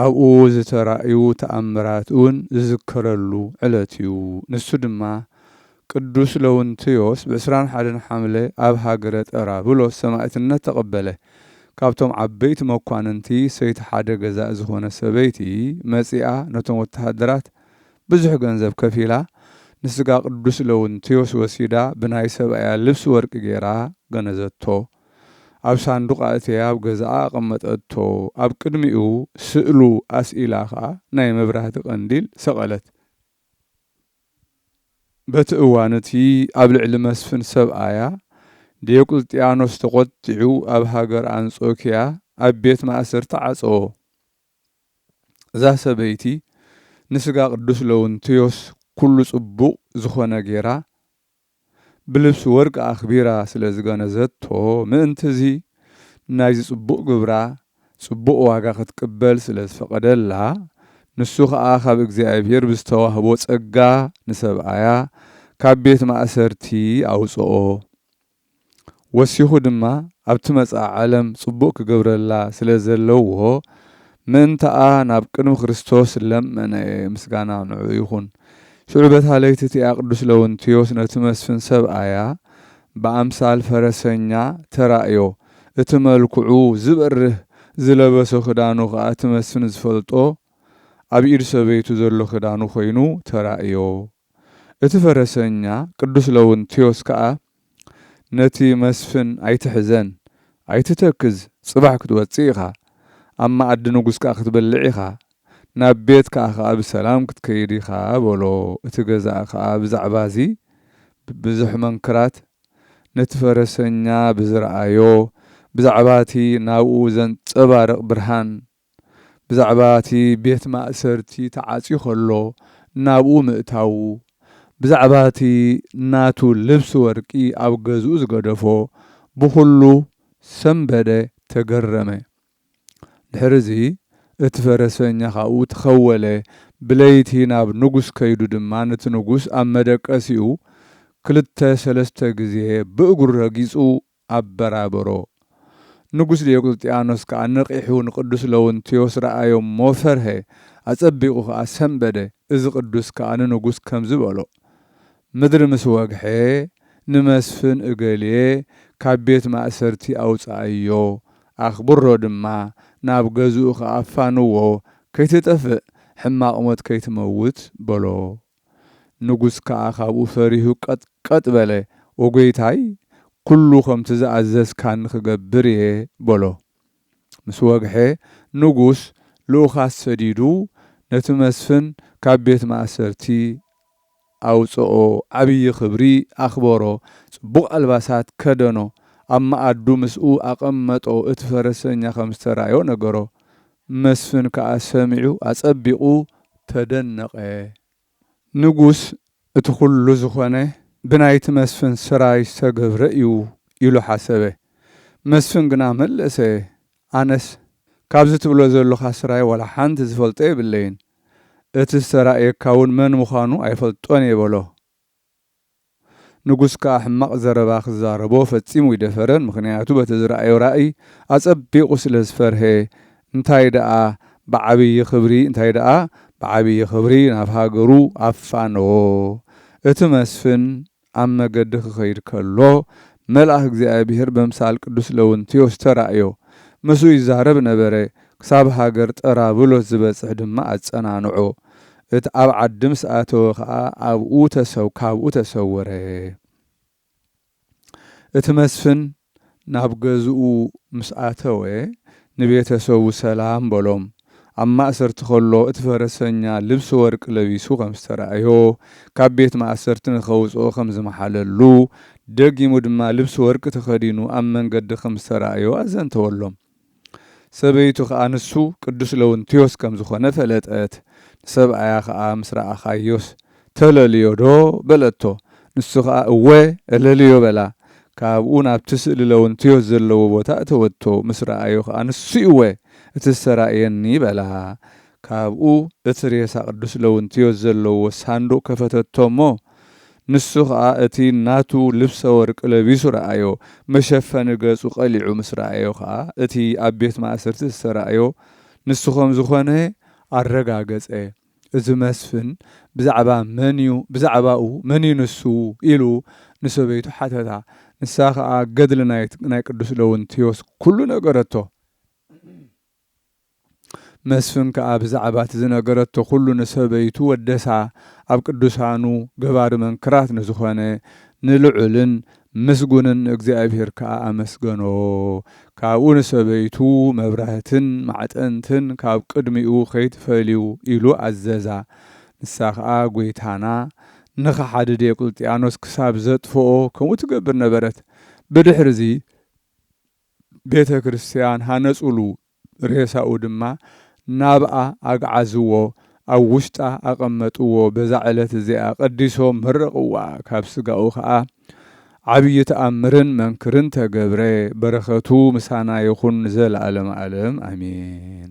ኣብኡ ዝተራእዩ ተኣምራት እውን ዝዝከረሉ ዕለት እዩ። ንሱ ድማ ቅዱስ ለውንቲዮስ ብ ዕስራን ሓደን ሓምለ ኣብ ሃገረ ጠራብሎስ ሰማእትነት ተቐበለ። ካብቶም ዓበይቲ መኳንንቲ ሰይቲ ሓደ ገዛኢ ዝኾነት ሰበይቲ መጺኣ ነቶም ወተሃደራት ብዙሕ ገንዘብ ከፊላ ንስጋ ቅዱስ ለውንቲዮስ ወሲዳ ብናይ ሰብኣያ ልብሲ ወርቂ ገይራ ገነዘቶ። ኣብ ሳንዱቕ ኣእትያ ኣብ ገዛኣ ኣቐመጠቶ፣ ኣብ ቅድሚኡ ስእሉ ኣስኢላ ከኣ ናይ መብራህቲ ቀንዲል ሰቐለት። በቲ እዋን እቲ ኣብ ልዕሊ መስፍን ሰብኣያ ዲዮቅልጥያኖስ ተቖጢዑ ኣብ ሃገር ኣንጾኪያ ኣብ ቤት ማእሰርቲ ዓጸዎ። እዛ ሰበይቲ ንስጋ ቅዱስ ለውንትዮስ ኩሉ ጽቡቕ ዝኾነ ጌራ፣ ብልብሲ ወርቂ ኣኽቢራ ስለ ዝገነዘቶ ምእንት'ዚ ናይ'ዚ ጽቡቕ ግብራ ጽቡቕ ዋጋ ክትቅበል ስለ ዝፈቐደላ ንሱ ኸኣ ካብ እግዚኣብሔር ብዝተዋህቦ ጸጋ ንሰብኣያ ካብ ቤት ማእሰርቲ ኣውጽኦ። ወሲኹ ድማ ኣብቲ መጻኢ ዓለም ጽቡቕ ክገብረላ ስለ ዘለዎ ምእንታኣ ናብ ቅድሚ ክርስቶስ ለመነ ምስጋና ንዕኡ ይኹን። ሽዑ በታ ለይቲ እቲኣ ቅዱስ ለውንቲዮስ ነቲ መስፍን ሰብኣያ ብኣምሳል ፈረሰኛ ተራእዮ እቲ መልክዑ ዝበርህ ዝለበሶ ክዳኑ ከኣ እቲ መስፍን ዝፈልጦ ኣብ ኢድ ሰበይቱ ዘሎ ክዳኑ ኮይኑ ተራእዮ እቲ ፈረሰኛ ቅዱስ ለውንቲዮስ ከኣ ነቲ መስፍን ኣይትሕዘን ኣይትተክዝ ጽባሕ ክትወጽእ ኢኻ ኣብ መኣዲ ንጉስ ከኣ ክትበልዕ ኢኻ ናብ ቤትካ ከኣ ብሰላም ክትከይድ ኢኻ በሎ እቲ ገዛኢ ከኣ ብዛዕባ እዚ ብብዙሕ መንክራት ነቲ ፈረሰኛ ብዝረኣዮ ብዛዕባ እቲ ናብኡ ዘንጸባርቕ ብርሃን ብዛዕባ እቲ ቤት ማእሰርቲ ተዓጽዩ ከሎ ናብኡ ምእታዉ፣ ብዛዕባ እቲ ናቱ ልብሲ ወርቂ ኣብ ገዝኡ ዝገደፎ፣ ብኹሉ ሰምበደ ተገረመ። ድሕርዚ እቲ ፈረሰኛ ካብኡ ተኸወለ፣ ብለይቲ ናብ ንጉስ ከይዱ ድማ ነቲ ንጉስ ኣብ መደቀሲኡ ክልተ ሰለስተ ግዜ ብእግሩ ረጊጹ ኣበራበሮ። ንጉስ ዲዮቅልጥያኖስ ከኣ ነቒሑ ንቅዱስ ለውንትዮስ ረኣዮ እሞ ፈርሀ፣ ኣጸቢቑ ከኣ ሰምበደ፣ እዚ ቅዱስ ከኣ ንንጉስ ከምዚ በሎ፣ ምድሪ ምስ ወግሐ ንመስፍን እገሌ ካብ ቤት ማእሰርቲ ኣውጽኣዮ፣ ኣኽብሮ ድማ፣ ናብ ገዝኡ ከኣ ኣፋንዎ፣ ከይትጠፍእ፣ ሕማቕ ሞት ከይትመውት በሎ ንጉስ ከኣ ካብኡ ፈሪሁ ቀጥቀጥ በለ፣ ወጐይታይ፣ ኵሉ ኸምቲ ዝኣዘዝካኒ ኽገብር እየ፣ በሎ። ምስ ወግሐ፣ ንጉስ ልኡኻት ሰዲዱ፣ ነቲ መስፍን ካብ ቤት ማእሰርቲ ኣውጽኦ፣ ዓብዪ ኽብሪ ኣኽበሮ፣ ጽቡቕ ኣልባሳት ከደኖ፣ ኣብ መኣዱ ምስኡ ኣቐመጦ፣ እቲ ፈረሰኛ ኸም ዝተራእዮ ነገሮ፣ መስፍን ከኣ ሰሚዑ ኣጸቢቑ ተደነቐ። ንጉስ እቲ ኩሉ ዝኾነ ብናይቲ መስፍን ስራይ ዝተገብረ እዩ ኢሉ ሓሰበ። መስፍን ግና መለሰ ኣነስ ካብዚ ትብሎ ዘሎኻ ስራይ ዋላ ሓንቲ ዝፈልጦ የብለይን። እቲ ዝተራእየካውን መን ምዃኑ ኣይፈልጦን እየ በሎ። ንጉስ ከኣ ሕማቕ ዘረባ ክዛረቦ ፈጺሙ ኣይደፈረን፣ ምኽንያቱ በቲ ዝረኣዮ ራእይ ኣጸቢቑ ስለ ዝፈርሀ፣ እንታይ ደኣ ብዓብዪ ክብሪ እንታይ ደኣ ብዓብዪ ክብሪ ናብ ሃገሩ ኣፋነዎ። እቲ መስፍን ኣብ መገዲ ክኸይድ ከሎ፣ መልኣኽ እግዚኣብሄር በምሳል ቅዱስ ለውንቲዮስ ተራእዮ፣ ምስኡ ይዛረብ ነበረ፣ ክሳብ ሃገር ጠራብሎስ ዝበጽሕ ድማ ኣጸናንዖ። እቲ ኣብ ዓዲ ምስ ኣተወ ከኣ ኣብኡ ተሰው ካብኡ ተሰወረ። እቲ መስፍን ናብ ገዝኡ ምስ ኣተወ ንቤተሰቡ ሰላም በሎም። ኣብ ማእሰርቲ ከሎ እቲ ፈረሰኛ ልብሲ ወርቂ ለቢሱ ከም ዝተራእዮ ካብ ቤት ማእሰርቲ ንኸውጽኦ ከም ዝመሓለሉ ደጊሙ ድማ ልብሲ ወርቂ ተኸዲኑ ኣብ መንገዲ ከም ዝተራእዮ ኣዘንተወሎም። ሰበይቱ ኸኣ ንሱ ቅዱስ ለውንቲዮስ ከም ዝኾነ ፈለጠት። ንሰብኣያ ኸኣ ምስ ረኣኻዮስ ተለልዮዶ? በለቶ። ንሱ ኸኣ እወ እለልዮ በላ። ካብኡ ናብቲ ስእሊ ለውንቲዮስ ዘለዎ ቦታ እተወቶ። ምስ ረኣዮ ኸኣ ንሱ እወ እቲ ዝተራእየኒ በላ። ካብኡ እቲ ሬሳ ቅዱስ ለውንቲዮስ ዘለዎ ሳንዱቕ ከፈተቶ እሞ ንሱ ኸኣ እቲ ናቱ ልብሰ ወርቂ ለቢሱ ረኣዮ፣ መሸፈኒ ገጹ ቐሊዑ ምስ ረኣዮ ኸኣ፣ እቲ ኣብ ቤት ማእሰርቲ ዝተራእዮ ንሱ ኸም ዝዀነ ኣረጋገጸ። እዚ መስፍን ብዛዕባ መን እዩ፣ ብዛዕባኡ መን እዩ ንሱ? ኢሉ ንሰበይቱ ሓተታ። ንሳ ኸኣ ገድሊ ናይ ቅዱስ ለውንትዮስ ኵሉ ነገረቶ። መስፍን ከኣ ብዛዕባ እቲ ዝነገረቶ ኩሉ ንሰበይቱ ወደሳ ኣብ ቅዱሳኑ ገባሪ መንክራት ንዝኾነ ንልዑልን ምስጉንን ንእግዚኣብሔር ከኣ ኣመስገኖ ካብኡ ንሰበይቱ መብራህትን ማዕጠንትን ካብ ቅድሚኡ ከይትፈልዩ ኢሉ ኣዘዛ ንሳ ከኣ ጐይታና ንኸሓዲ ዲዮቅልጥያኖስ ክሳብ ዘጥፍኦ ከምኡ ትገብር ነበረት ብድሕርዚ ቤተ ክርስትያን ሃነጹሉ፣ ሬሳኡ ድማ ናብኣ ኣግዓዝዎ፣ ኣብ ውሽጣ ኣቐመጥዎ፣ በዛ ዕለት እዚኣ ቀዲሶም መረቕዋ፣ ካብ ሥጋኡ ከኣ ዓቢይ ተኣምርን መንክርን ተገብረ፣ በረከቱ ምሳና ይኹን ንዘለዓለመ ዓለም ኣሜን።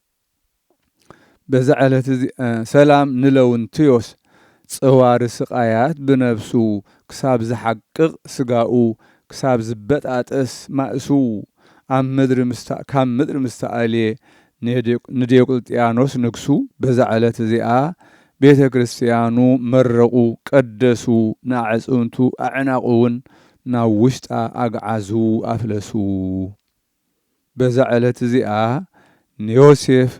በዛ ዕለት እዚ ሰላም ንለውንትዮስ ጸዋሪ ስቃያት ብነብሱ ክሳብ ዝሓቅቅ ስጋኡ ክሳብ ዝበጣጠስ ማእሱ ኣብ ምድሪ ምስታ ካብ ምድሪ ምስ ተኣልየ ንዲዮቅልጥያኖስ ንግሱ በዛ ዕለት እዚኣ ቤተ ክርስትያኑ መረቁ ቀደሱ ንኣዕጽምቱ ኣዕናቁ ውን ናብ ውሽጣ ኣግዓዙ ኣፍለሱ በዛ ዕለት እዚኣ ንዮሴፍ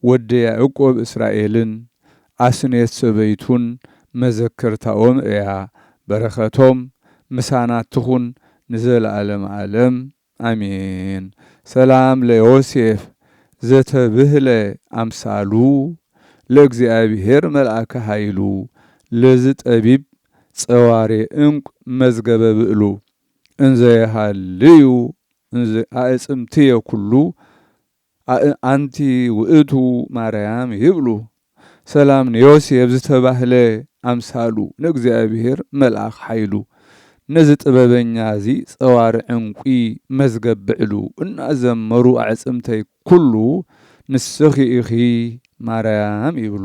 ወዲ ያእቆብ እስራኤልን ኣስኔት ሰበይቱን መዘከርታኦም እያ በረከቶም ምሳና ትኹን ንዘለኣለም ኣለም ኣሜን ሰላም ለዮሴፍ ዘተብህለ ኣምሳሉ ለእግዚኣብሔር መልኣከ ኃይሉ ለዝጠቢብ ጸዋሬ እንቁ መዝገበ ብእሉ እንዘ የሃልዩ እንዘ ኣእጽምትየ ኩሉ ኣእንቲ ውእቱ ማርያም ይብሉ ሰላም ንዮሴፍ ዝተባህለ ኣምሳሉ ንእግዚኣብሔር መልኣኽ ሓይሉ ነዚ ጥበበኛ እዚ ጸዋር ዕንቊ መዝገብ ብዕሉ እናዘመሩ ኣዕጽምተይ ኩሉ ንስኺ ኢኺ ማርያም ይብሉ።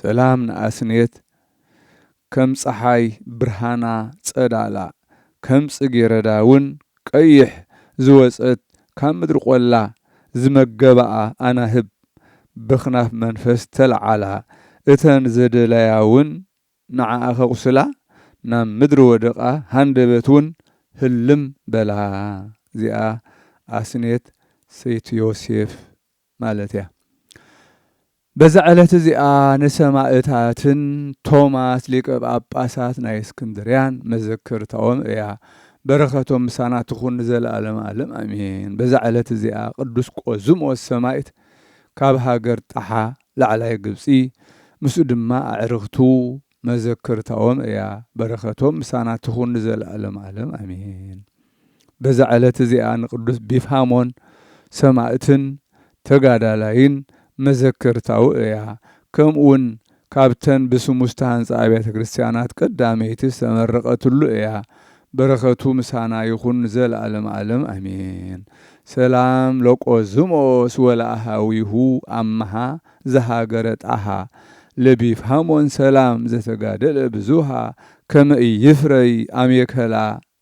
ሰላም ንኣስንየት ከም ጸሓይ ብርሃና ጸዳላ ከም ጽጌረዳ ውን ቀይሕ ዝወጸት ካብ ምድሪ ቆላ ዝመገባኣ ኣናህብ በክናፍ መንፈስ ተልዓላ እተን ዘደላያ ውን ንዓኣ ከቁስላ ናብ ምድሪ ወደቃ ሃንደበት ውን ህልም በላ እዚኣ ኣስንየት ሰይቲ ዮሴፍ ማለት እያ። በዛ ዕለት እዚኣ ንሰማእታትን ቶማስ ሊቀ ጳጳሳት ናይ እስክንድርያን መዘከርታኦም እያ። በረኸቶም ምሳና ትኹን ንዘለዓለመ ዓለም ኣሜን። በዛ ዕለት እዚኣ ቅዱስ ቆዝሞስ ሰማዕት ካብ ሃገር ጣሓ ላዕላይ ግብጺ ምስኡ ድማ ኣዕርኽቱ መዘከርታኦም እያ። በረኸቶም ምሳና ትኹን ንዘለዓለመ ዓለም ኣሜን። በዛ ዕለት እዚኣ ንቅዱስ ቢፍሃሞን ሰማእትን ተጋዳላይን መዘከርታኡ እያ። ከምኡውን ካብተን ብስሙ ዝተሃንጻ ኣብያተ ክርስቲያናት ቀዳመይቲ ዝተመረቐትሉ እያ። በረከቱ ምሳና ይኹን ንዘለዓለመ ዓለም ኣሜን። ሰላም ለቆዝሞስ ወለኣሃዊሁ ኣመሃ ዘሃገረ ጣሃ ለቢፍሃሞን ሰላም ዘተጋደለ ብዙሃ ከመ ኢይፍረይ ኣሜከላ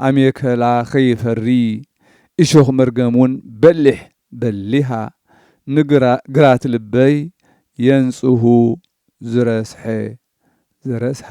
ኣሜከላ ከይፈሪ እሾኽ መርገም ውን በሊሕ በሊሃ ንግራት ልበይ የንጽሁ ዝረስሐ ዘረስሃ።